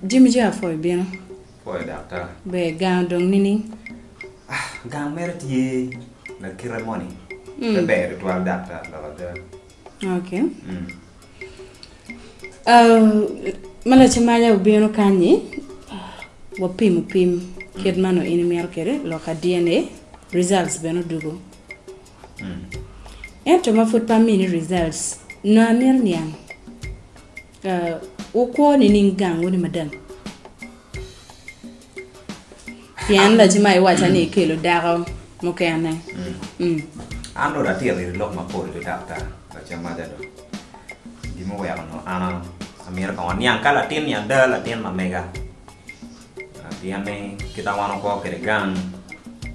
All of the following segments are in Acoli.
Jami jami apwoyo bino. Pwoyo daktar. Ber gang odong nining? Ah, gang mere tye lakite moni. Mm. Pe ber tutwal daktar lok ada. Okay. Mm. ma lacamaya obino kany-nyi wapim opim kit ma nongo in imito kwede lok pa DNA results bene odwogo ento ma pud pe amini results nongo amito niang wukwo nining gang wuni madam? Pien laci ma iwaca ni ikelo dako mukene. Mm. An dong atito iri lok mapol pi daktar lacammaca do. Gin muweko nongo an amito kong aniang ka latin-ni ada latin ma mega. Ah, Pien ni kita wan wako kwede gang,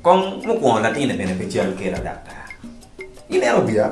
kong mukwongo latin-ni bene pe cal kela daktar. Ineno biya?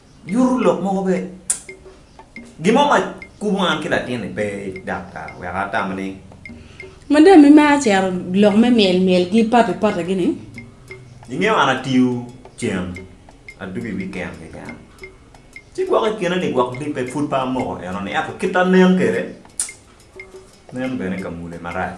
Nyuto lok mogo bene. Gin mo ma kubo an ki latinni pe dakta wek atam ni. Madam-mi maro cero lok me myelmyelgi, patipatigi-ni. Ingeyo an atiyo cen, adwogo i wiken keken. Ci gwok i kine-ni gwok libbe pud pe amoko enoni ento kit anen kwede nen bene ka mule marac.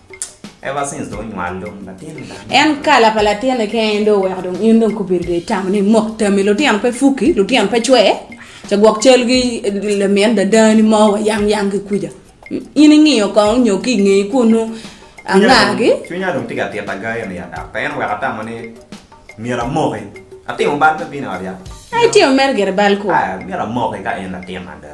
En kala pa latinne kene dong oweko dong in dong kobedo dong itamo ni mok tami lutino pe fuki lutino pe cwe ce gwok calgi lamin dadani mo wa yang yang ki kuca in ingiyo kong nyo ki ingeye kunu angagi cwinya dong tye ka tita ga eni ada pe en oweko atamo ni myero amoki atimo bal me bino i ot yat. Itimo mere gire bal kwo. Myero amoki ka en latin ada.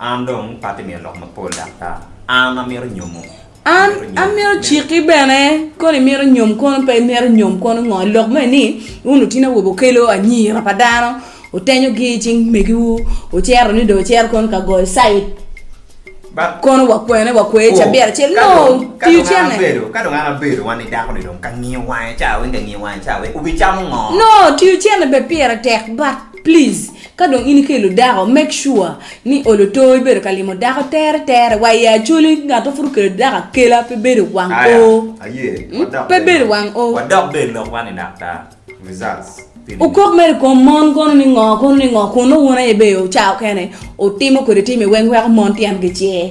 An dong pati miyo lok mapol dok ta. An amito nyomo. An amito ciki bene koni mito nyom kono pe imito nyom kono ngo lok me ni un otino awobe okelo anyira pa dano otenyo gi cing megiwu ocero ni do ocero kono ka goyo sait kono wakwene wakwe oh, cabira cel no tiyo cene bedo ka dong ana bedo wan ni dako ni dong ka ngiyo wange cha wen ka ngiyo wange cha wen ubi chamo ngo no tiyo cene be pire tek but please Ka dong in ikelo dako make sure ni i olo too ibedo ka limo dako tere tere wa i Acholi ngat ma pud okelo dako akela pe bedo wang oo pe bedo wang oo. Okok mere i kom mon kono ni ngo kono ni ngo kun nongo wun aye bene ocawo kene otimo kwede tim iweng weko mon tyen gicer.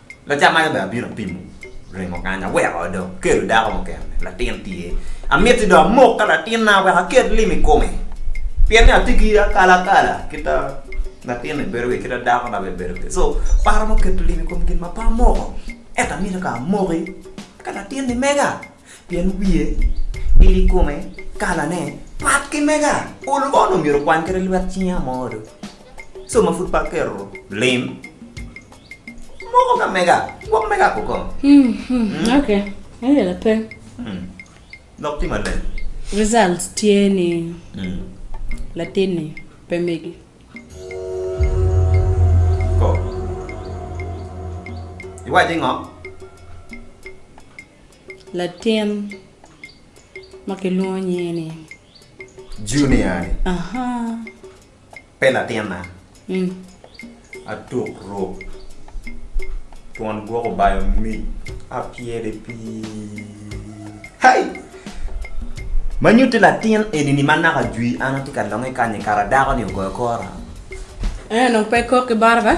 Lacan aye bene abino apimo ringo kany, aweko dong akelo dako mukene, latin tye. Amiti dong amok ka latinna wek aket lim i kome, pien ni atye ki akalakala kita latinni bedo kwede, kita dakona bene bedo kwede. So paro me keto lim i kom gin ma pe amoko, ento amito ka amoki eka latinni mega. Pien wiye, il i kome, kalane, pat ki mega. Olo onongo myero okwany kede lwet cinge amo do. Co ma pud pe aketo lim, moko ka mega, gwok mega ko kong. Mm, ok. Aye lape. Mm. Lok ti maleng. Results tye ni Mm. latinni pe megi. Ko. Iwacci ngo? Latin ma kilwongo nyinge ni. Junior-ni. Pe latinna. Atuk ruk twon gwoko bayo mic apyere pii-hei! Ma nyutti latin eni-ni ma naka jwi an atye ka longe kany-ni kara dako-ni ogoyo kora? Eno, pe ikok ki baraka.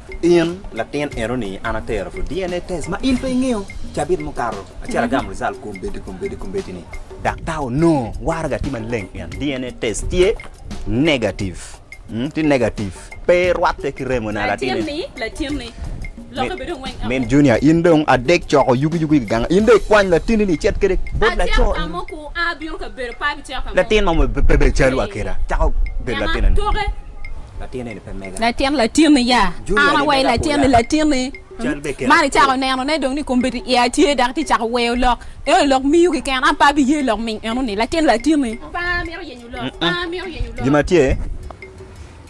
In latin enoni an atero to DNA test ma in pe ingeyo cabit mukato acel agamo result kombeddi kombeddi kombeddi ni daktar onongo waraga tye maleng in DNA test tye negative mm, tye negative pe rwatte ki remo na latin en Latinni, latinni. Lokke bedo ngweng amo. Min Junior in dong adek coko yugi yugi i gang in dong ikwany latinni ni icit kwede bot laco Acel ka mo ku a bino ka bedo pa bicel ka mo. latin ma pe bedo calo wa keda cako bedo Nyaka latin eni. toke. Latin latinni ya. An awa i latin ni latinni. Man icako neno ne dong ni kombeddi i a tye dak ti cako weyo lok enoni lok miyu ki ken an pe abi ye lok ming enoni latin latinni. Gima tye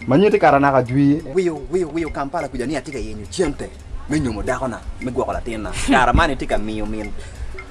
ma nyuti kara naka jwir. Wiyo Kampala kuja ni ati ka yenyo cente me nyomo dakona me gwoko latinna kara man iti ka miyo min.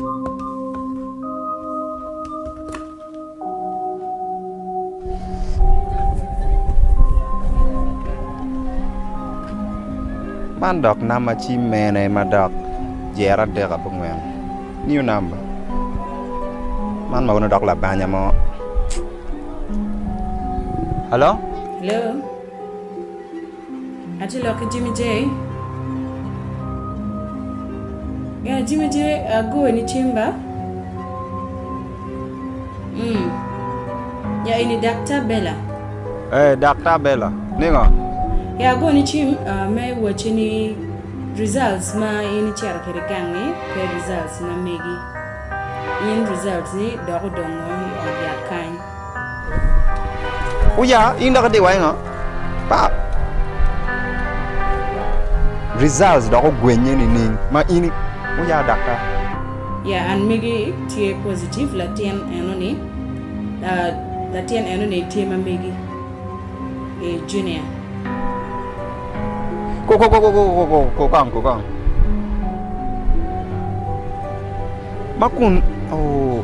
Man dok nam ma cim mene ma dok jere adek ape ongwen new number man ma kono dok labanya mo, hello. Atye lok ki Jimmy Jay. Yeah, Jimmy Jay agoyo ni cimba. Mm. Ya eni Dakta Bella. Eh, Dakta Bella. Ningo? Ya agoyo ni cim ah, me wacci ni results ma in icito kwede gang-ngi pe results ma megi. In results-ni dok odongo i ot yat kany. Uya, in dok idiwa i ngo? Pap! Results dok ogwenye nining ma in Uya daktar? Ya, an megi tye positive, latin enoni, latin enoni tye ma megi, ee Junior. Ko, ko, ko, ko, ko kong, ko kong. Ma kun, oh.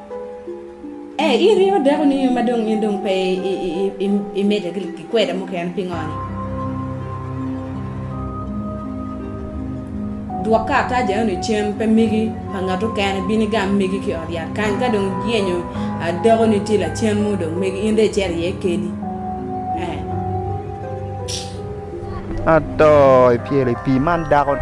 Ee, in ringo dako nio ma dong in dong pe imedde ki kweda mukene. Pingo ni? Dwok karatac enoni cen, pe migi pa ngat okene. Bin igam migi ki i ot yat kany. Ka dong iyenyo dakoni tye lacen mo dong megi, in dong icito iye keni. Ee. Ato, ipyelo i pii man dako ni.